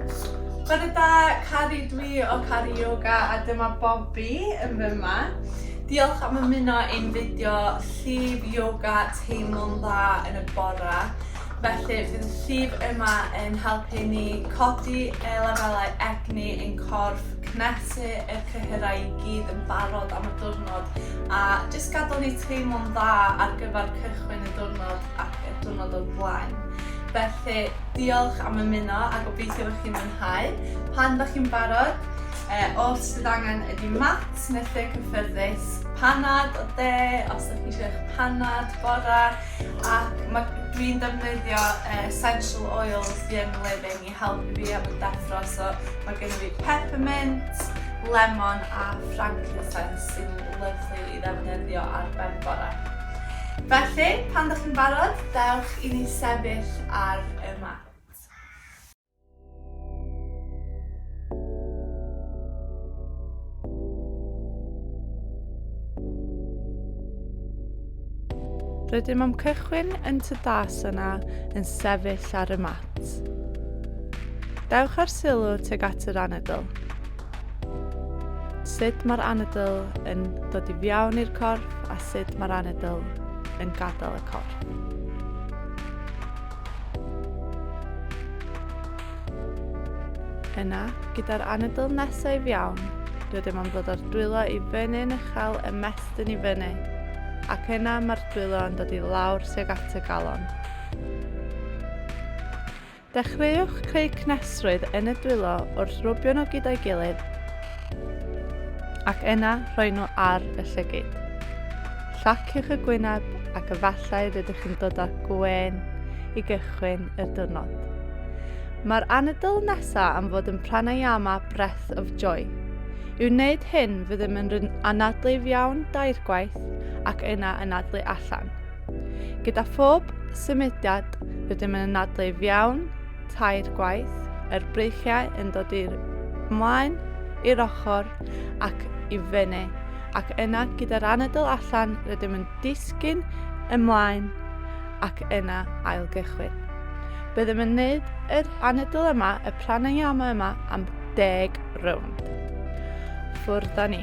Bore da, Cari, dwi o Cari Yoga a dyma Bobi yn fy yma. Diolch am ymuno i'n fideo llif yoga teimlo'n dda yn y bora. Felly bydd y llif yma yn helpu ni codi y lefelau egni ein corff, cnesu y cyhyrau i gyd yn barod am y diwrnod a jyst gadael ni teimlo'n dda ar gyfer cychwyn y diwrnod ac y diwrnod o'r blaen. Felly, diolch am ymuno a gobeithio bod chi'n mwynhau. Pan da chi'n barod, e, os bydd angen ydy mat neu lle cyffyrddus, panad o de, os ydych chi eisiau eich panad, bora, ac mae dwi'n defnyddio e, essential oils fi yn living i helpu fi am y deffro, so mae gen i fi peppermint, lemon a frankincense sy'n lyflu i ddefnyddio ar ben bore. Felly, pan ydych chi'n barod, dewch i ni sefyll ar y mat. Rydym am cychwyn yn Tadasana yn sefyll ar y mat. Dewch â'r sylw tuag at yr anadl. Sut mae'r anadl yn dod i fiawn i'r corff a sut mae'r anadl yn gadael y corff. Yna, gyda'r anadl nesaf i fiawn, rydym am ddod â'r dwylo i fyny yn uchel y mestyn i fyny, ac yna mae'r dwylo yn dod i lawr tuag at y galon. Dechreuwch creu cnestrwydd yn y dwylo wrth rwbio nhw gyda'i gilydd ac yna rhoi nhw ar y llygyd. Llaciwch y gwyneb ac efallai rydych chi'n dod â gwên i gychwyn y diwrnod. Mae'r anadl nesa am fod yn pranayama breath of joy. I wneud hyn, fyddem yn anadlu'n iawn dair gwaith ac yna anadlu allan. Gyda phob symudiad rydym yn anadlu fiawn tair gwaith, yr breichiau yn dod i'r ymlaen, i'r ochr ac i fyny, ac yna gyda'r anadl allan rydym yn disgyn ymlaen ac yna ailgychwyn. Byddem yn neud yr anadl yma, y pranayama yma, am deg rownd. Ffwrdd â ni.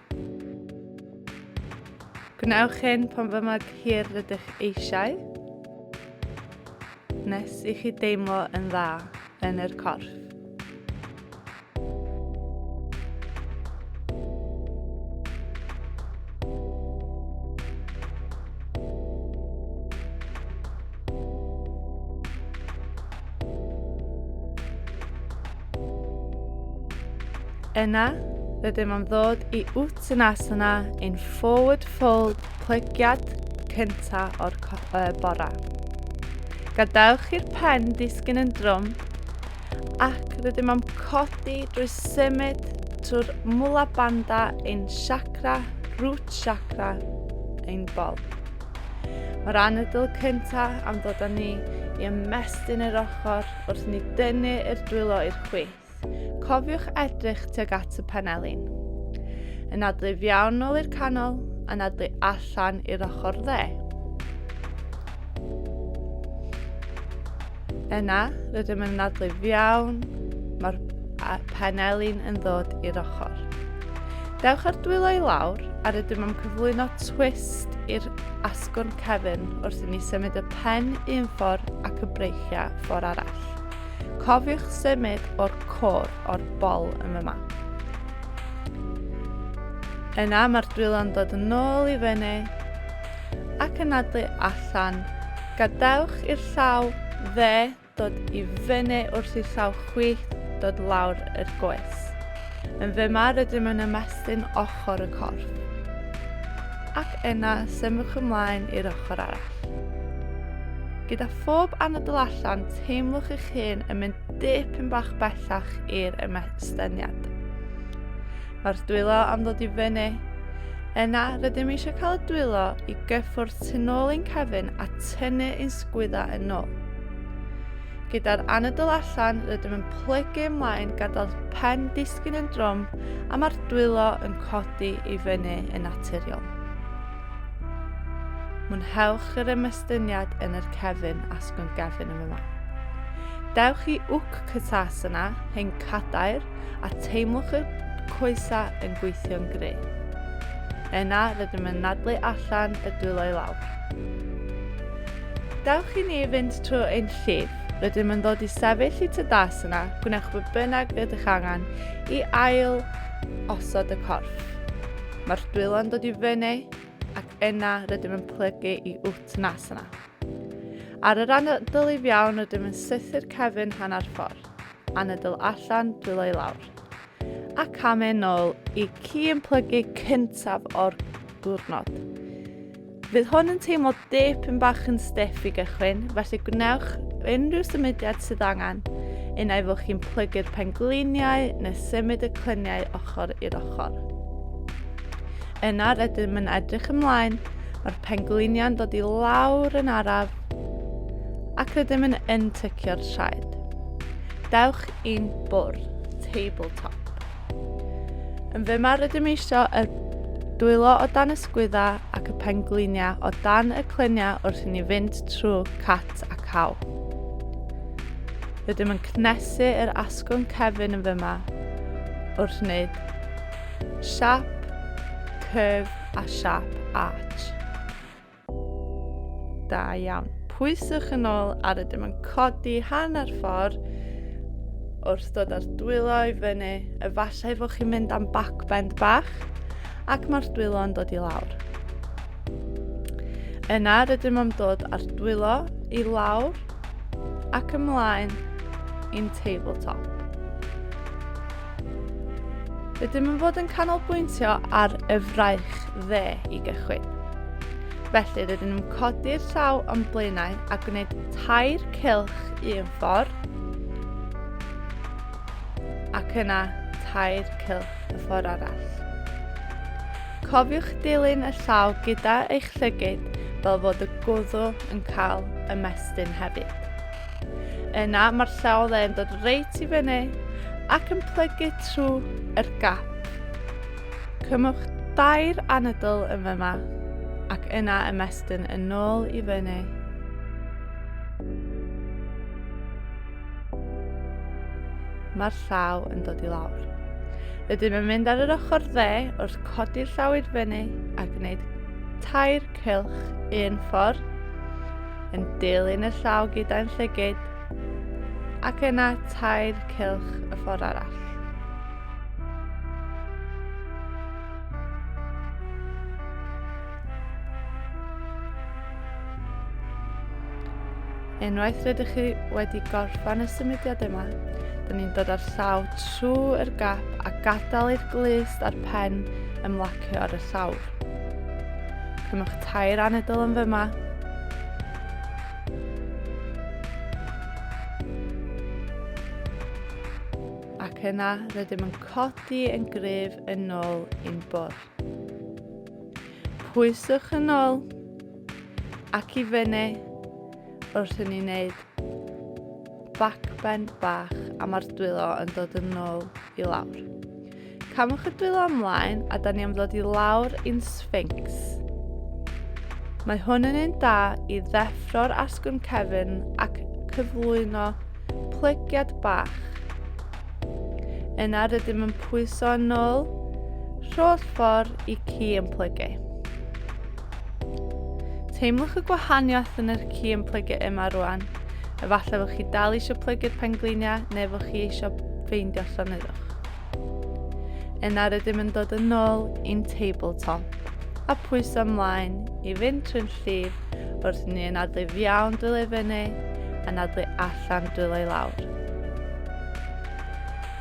Gwnewch hyn pan fy mor hir rydych eisiau, nes i chi deimlo yn dda yn yr corff. Yna, rydym am ddod i Uttanasana in forward fold plegiad cynta o'r uh, bora. Gadewch i'r pen disgyn yn drwm ac rydym am codi drwy symud trwy'r mula banda ein chakra, root chakra, ein bol. Mae'r anadl cyntaf am ddod â ni i ymestyn yr ochr Wrth ni dynnu yr dwylo i'r chwith, cofiwch edrych tuag at y panelin. Anadlu fiawn ôl i'r canol, anadlu allan i'r ochr dde. Yna, rydym yn anadlu fiawn, mae'r panelin yn ddod i'r ochr. Dewch ar dwylo i lawr a rydym am cyflwyno twist i'r asgwrn cefn wrth i ni symud y pen un ffordd ac y breic Slovacia ffordd arall. Cofiwch symud o'r cor o'r bol yn fy map. Yna mae'r dwylo'n dod yn ôl i fyny ac yn adlu allan. Gadewch i'r llaw dde dod i fyny wrth i llaw chwith dod lawr yr goes. Yn fy mar ydym yn ymestyn ochr y corff. Ac yna symwch ymlaen i'r ochr arall. Gyda phob anadl allan, teimlwch eich hun yn mynd dipyn bach bellach i'r ymesteniad. Mae'r dwylo am ddod i fyny. Yna, rydym eisiau cael y dwylo i gyffwrdd tu nôl ein cefn a tynnu ein sgwydda yn ôl. Gyda'r anadl allan, rydym yn plygu ymlaen gadael pen disgyn yn drwm a mae'r dwylo yn codi i fyny yn naturiol. Mwynhewch yr ymystyniad yn yr cefn asgwrn gefn yn yma. Dewch i wc cytas yna, hen cadair, a teimlwch y coesa yn gweithio'n gry. Yna rydym yn nadlu allan y dwylo i lawr. Dewch i ni fynd trwy ein llif. Rydym yn dod i sefyll i tydas yna, gwnewch be bynnag rydych angen i ail osod y corff. Mae'r dwylo'n dod i fyny ac yna rydym yn plygu i wt nas yna. Ar y ran dylyf iawn rydym yn sythu'r cefn hanner ffordd, anadl allan, dwylo i lawr. A cam yn ôl i ci yn plygu cyntaf o'r diwrnod. Bydd hwn yn teimlo dipyn bach yn stiff i gychwyn, felly gwnewch unrhyw symudiad sydd angen, un ai fod chi'n plygu'r pengliniau neu symud y clyniau ochr i'r ochr. Yna rydym yn edrych ymlaen, mae'r pengliniau'n dod i lawr yn araf ac rydym yn untycio'r traed. Dewch i'n bwrdd, tabletop. Yn fy mar rydym eisio y dwylo o dan ysgwydda ac y penglinia o dan y clynia wrth i ni fynd trwy cat a caw. Rydym yn cnesu yr asgwrn cefn yn fyma wrth wneud siap, curve a siap arch. Da iawn. Pwyswch yn ôl ar y dim yn codi hanner ffordd wrth dod ar dwylo i fyny, efallai fod chi'n mynd am backbend bach ac mae'r dwylo yn dod i lawr. Yna rydym am dod ar dwylo i lawr ac ymlaen i'n tabletop. Rydym yn fod yn canolbwyntio ar y fraich dde i gychwyn. Felly rydyn nhw'n codi'r llaw o'n blaenau a gwneud tair cylch un ffordd ac yna tair cylch y ffordd arall. Cofiwch dilyn y llaw gyda eich llygyd fel fod y gwddw yn cael ymestyn hefyd. Yna mae'r llaw dde yn dod reit i fyny ac yn plygu trwy yr gap. Cymwch dair anadl yn fyma ac yna ymestyn yn ôl i fyny. Mae'r llaw yn dod i lawr. Rydym yn mynd ar yr ochr dde wrth codi'r llaw i'r fyny a gwneud tair cylch un ffordd yn dilyn y llaw gyda'n llygyd ac yna tair cylch y ffordd arall. Unwaith rydych chi wedi gorffan y symudiad yma, dyn ni'n dod â'r llaw trwy'r gap a gadael i'r glust a'r pen ymlacio ar y llawr. Cymwch tair anedl yn fyma. Ac yna, rydym yn codi yn gryf yn ôl i'n bwrdd. Pwyswch yn ôl ac i fyny wrth i ni wneud backbend bach a mae'r dwylo yn dod yn ôl i lawr. Camwch y dwylo ymlaen a da ni am ddod i lawr i'n Sphinx. Mae hwn yn un da i ddeffro'r asgwrn cefn ac cyflwyno plygiad bach. Yna rydym yn pwyso yn ôl rholl ffordd i ci yn plygu. Teimlwch y gwahaniaeth yn yr ci yn plygu yma rwan. Efallai fod chi dal eisiau plygu'r pengliniau neu fod chi eisiau ffeindio llonyddwch. Yna rydym yn dod yn ôl i'n tabletop a pwyso ymlaen i fynd trwy'n llif wrth ni yn adlu fiawn dwylo i fyny a nadlu allan dwylo i lawr.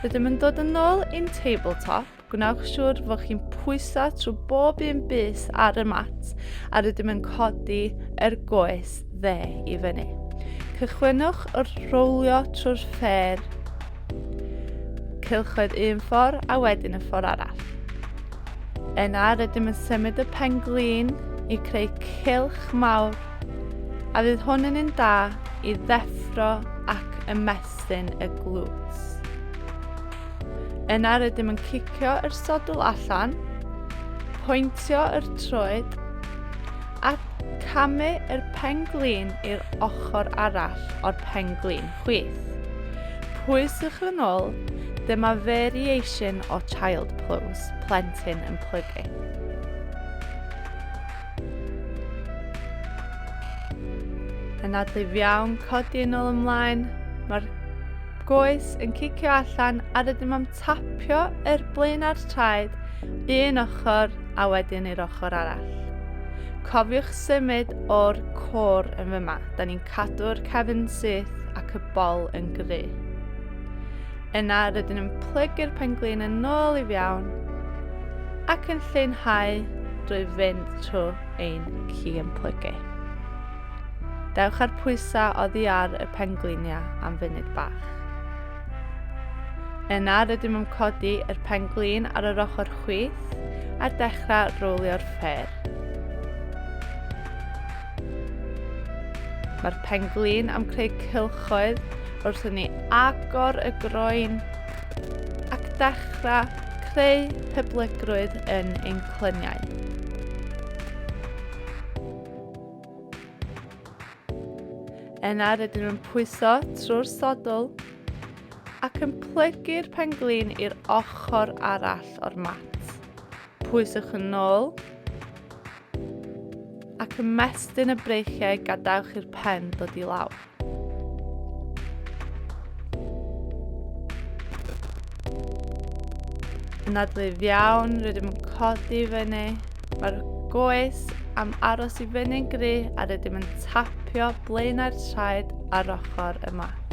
Rydym yn dod yn ôl i'n tabletop, gwnewch siŵr fod chi'n pwyso trwy bob un bus ar y mat a rydym yn codi er goes dde i fyny. Cychwynwch wrth rowlio trwy'r ffer Cylchoedd un ffordd a wedyn y ffordd arall. Yna rydym yn symud y pen glin i creu cylch mawr a fydd hwn yn un da i ddeffro ac ymestyn y glws. Yna rydym yn cicio yr sodl allan, pwyntio yr troed a camu yr pen glin i'r ochr arall o'r pen glin. Chwith. Pwyswch yn ôl, dyma variation o child pose, plentyn yn plygu. Yn adlif iawn, codi yn ôl ymlaen, mae'r goes yn cicio allan a rydym am tapio yr blaen a'r traed un ochr a wedyn i'r ochr arall. Cofiwch symud o'r cwr yn fyma, da ni'n cadw'r cefn syth ac y bol yn gry. Yna rydyn yn plygu'r penglin yn ôl i fiawn ac yn lleinhau drwy fynd trwy ein ci yn plygu. Dewch ar pwysau oddi ar y pengliniau am funud bach. Yna rydym yn codi yr penglin ar yr ochr chwith a'r dechrau rowlio'r ffer. Mae'r penglin am creu cylchoedd wrth i ni agor y groen ac dechrau creu hyblygrwydd yn ein clyniau. Yna rydyn nhw'n pwyso trwy'r sodl ac yn plygu'r penglin i'r ochr arall o'r mat. Pwyswch yn ôl ac ymestyn y breichiau gadewch i'r pen dod i lawr. Yn adlif iawn, rydym yn codi fyny. Mae'r goes am aros i fyny'n gry a rydym yn tapio blaenau'r traed ar ochr y mat.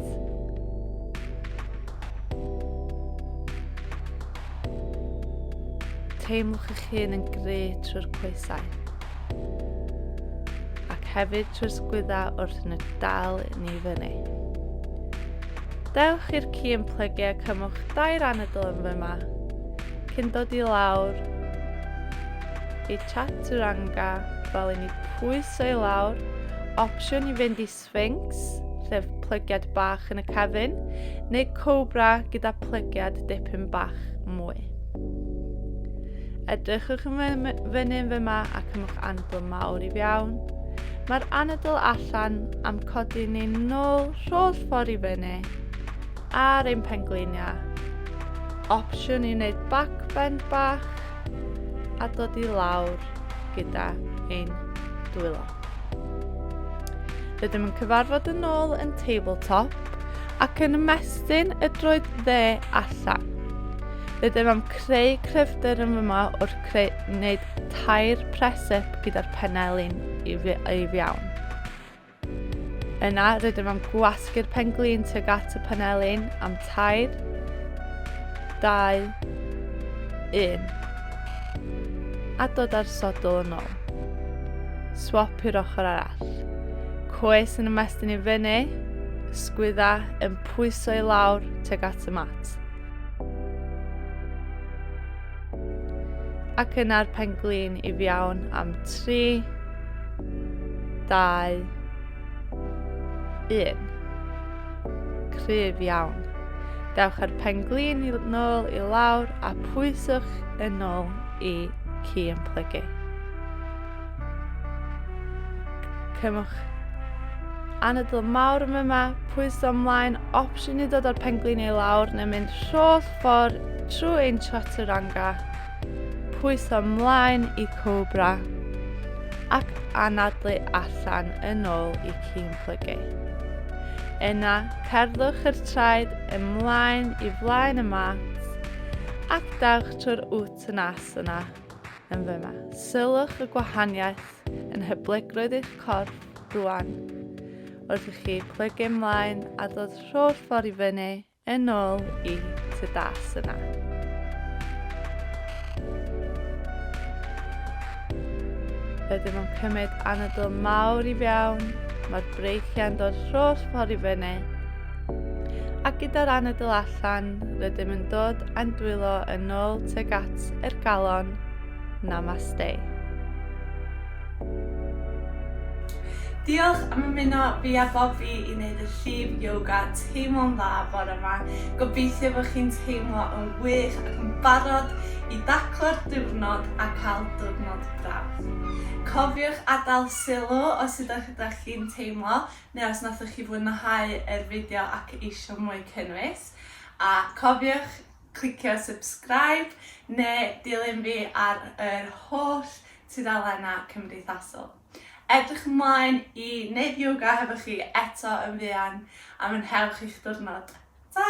Teimlwch eich hun yn gry trwy'r coesau ac hefyd trwy'r sgwyddau wrth yn y dal ni fyny. Dewch i'r ci yn plygu a cymwch dair anadl yn fyma cyn dod i lawr i chaturanga fel i ni pwyso i lawr opsiwn i fynd i Sphinx, sef plygiad bach yn y cefn, neu cobra gyda plygiad dipyn bach mwy. Edrychwch yn fyny yn fyma ac ymwch anadl mawr i fiawn. Mae'r anadl allan am codi ni nôl rholl ffordd i fyny ar ein pengliniau. Opsiwn i wneud backbend bach a dod i lawr gyda ein dwylo. Rydym yn cyfarfod yn ôl yn tabletop ac yn ymestyn y droed dde allan. Rydym am creu cryfder yn yma wrth creu, wneud tair presip gyda'r pennau lun i, i fiawn. Yna rydym am gwasgu'r pen glin tuag at y pennau lun am tair, dau, un. A dod â'r sodl yn ôl. Swap i'r ochr arall. Coes yn ymestyn i fyny, ysgwydda yn pwyso i lawr teg at y mat. Ac yna'r penglin i fiawn am 3, 2, 1. Cryf iawn. Dewch â'r penglin i nôl i lawr a pwyswch yn ôl i ci yn plygu. Cymwch anadl mawr yma, yma, pwyso ymlaen, opsiwn i ddod o'r penglin i lawr neu mynd rholl ffordd trwy ein chaturanga pwyso mlaen i Cobra ac anadlu allan yn ôl i Cîn Plygu. Yna, cerddwch yr traed ymlaen i flaen y mat ac dawch trwy'r Uttanasana yna yn fyma. Sylwch y gwahaniaeth yn hyblygrwydd eich corff rwan wrth i chi plygu ymlaen a dod rho'r ffordd i fyny Yn ol i ty das yna. Ydym yn cymryd anadl mawr i fewn, mae'r breichiau'n dod rholl ffordd i fyny, ac gyda'r anadl allan, rydym yn dod a'n dwylo yn ôl teg at yr galon. Namaste. Diolch am ymuno fi a Bobi i wneud y llif yoga teimlo'n dda bore ma. Gobeithio bod chi'n teimlo yn wych ac yn barod i daclo'r diwrnod a cael diwrnod braf. Cofiwch adael sylw os ydych ydych chi'n teimlo neu os nathoch chi fwynhau yr fideo ac eisiau mwy cynnwys. A cofiwch clicio subscribe neu dilyn fi ar yr holl tudalennau cymdeithasol. Edrych ymlaen i wneud yoga hefo chi eto yn fuan a mwynhewch eich diwrnod. Ta!